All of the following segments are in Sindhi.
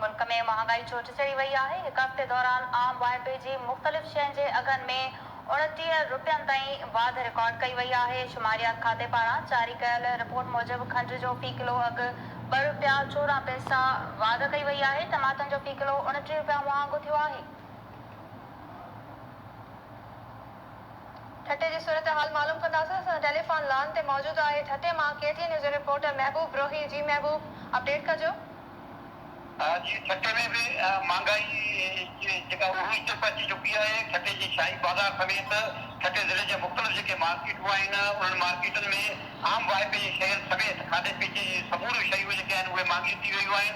ملڪ ۾ مهانگائي ڇو ٿي چڙهي وئي آهي؟ هڪ هفتي دوران عام واهپي جي مختلف شين جي اگهن ۾ اڻٽيهه رپين تائين واڌ رڪارڊ ڪئي وئي آهي. شماريات کاتي پاران جاري ڪيل رپورٽ موجب کنڊ جو في ڪلو اگهه ٻه رپيا چوڏهن پئسا واڌ ڪئي وئي آهي، ٽماٽن جو في ڪلو اڻٽيهه رپيا مهانگو ٿيو آهي. ٺٽي جي صورتحال معلوم ڪنداسين اسان سان ٽيليفان لان تي موجود آهي ٺٽي مان ڪي ٽي اين نيوز جو رپورٽر محبوب روهي جي محبوب اپڊيٽ ڪجو. جي ٺٽي ۾ به مھانگائي جيڪا عروج تي پهچي چڪي آهي ٺٽي جي شاھي بازار سميت ٺٽي ضلعي جا مختلف جيڪي مارڪيٽون آهن انهن مارڪيٽن ۾ عام واهپي جي شين سميت کاڌي پيتي جي سموريون شيون جيڪي آهن اهي مھانگيون ٿي ويون آهن.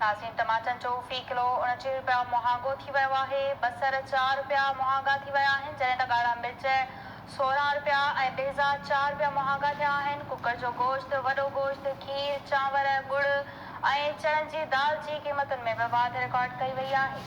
ناظرين ٽماٽن جو في ڪلو اڻٽيهه رپيا مهانگو ٿي ويو آهي، بصر چار رپيا مهانگا ٿي ويا آهن جڏهن ته ڳاڙها مرچ سورهن رپيا ۽ بيضا چار رپيا مهانگا ٿيا آهن، ڪڪڙ جو گوشت، وڏو گوشت، کير، چانور، ڳڙ ۽ چڻن جي دال جي قيمتن ۾ به واڌ رڪارڊ ڪئي وئي آهي.